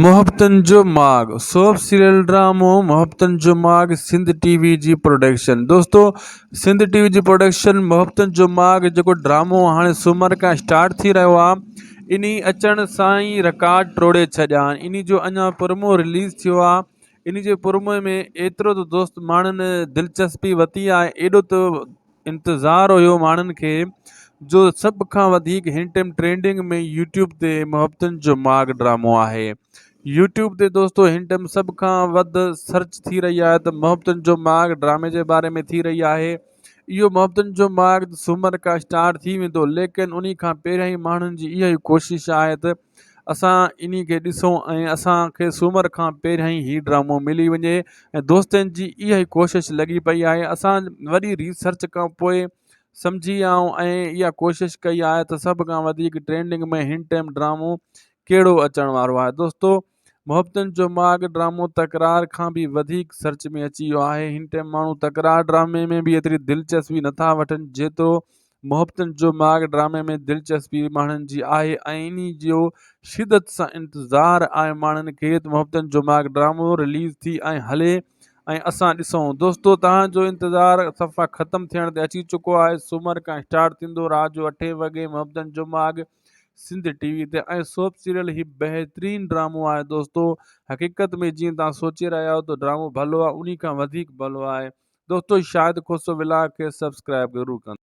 محبتن جو ماڳ سوپ سيريل ڊرامو محبتن جو ماڳ سنڌ ٽي وي جي پروڊڪشن دوستو سنڌ ٽي وي جي پروڊڪشن محبتن جو ماڳ جيڪو ڊرامو هاڻي سومر کان اسٽارٽ ٿي رهيو آهي ان اچڻ سان ئي رڪارڊ ٽوڙي ڇڏيا آهن ان جو اڃا پرمو رليز ٿيو آهي ان جي پرموء ۾ ايترو ته دوست ماڻهن دلچسپي وتي آهي ايڏو ته انتظار هيو ماڻهن کي جو سڀ کان وڌيڪ هن ٽيم ٽرينڊنگ ۾ يوٽيوب تي محبتن جو ماڳ ڊرامو آهي يوٽيوب تي دوستو هن ٽيم سڀ کان وڌ سرچ ٿي رهي آهي ته محبتن جو ماڳ ڊرامي جي باري ۾ ٿي رهي آهي اهو محبتن جو ماڳ سومر کا اسٽارٽ ٿي ويندو ليڪن انهي کان پهريائين ماڻهن جي اها ئي ڪوشش آهي ته اسان انهي کي ڏسون ۽ اسان کي سومر کان پهريائين هي ڊرامو ملي وڃي ۽ دوستن جي اها ئي ڪوشش لڳي پئي آهي اسان وڏي ريسرچ کان پوء سمجهي آئون ۽ اها ڪوشش ڪئي آهي ته سڀ کان وڌيڪ ٽرينڊنگ ۾ هن ٽيم ڊرامو ڪهڙو اچڻ وارو آهي دوستو محبتن جو ماڳ ڊرامو تڪرار کان به وڌيڪ سرچ ۾ اچي ويو آهي هن ٽيم ماڻهو تڪرار ڊرامي ۾ به ايتري دلچسپي نٿا وٺن جيترو محبتن جو ماڳ ڊرامي ۾ دلچسپي ماڻهن جي آهي ۽ انهي جو شدت سان انتظار آهي ماڻهن کي ته محبتن جو ماڳ ڊرامو رليز ٿي ۽ هلي ۽ اسان ڏسون دوستو توهان جو انتظار صفا ختم ٿيڻ تي اچي چڪو آهي سومر کان اسٽارٽ ٿيندو رات جو اٺين وڳي محبتن جو ماڳ سنڌ ٽي وي تي ۽ سوپ سيريل هي بهترين ڊرامو آهي دوستو حقيقت ۾ جيئن توهان سوچي رهيا آهيو ته ڊرامو ڀلو آهي انهي کان وڌيڪ ڀلو آهي دوستو شاهد کوسو ولاگ کي سبسڪرائب ضرور ڪندو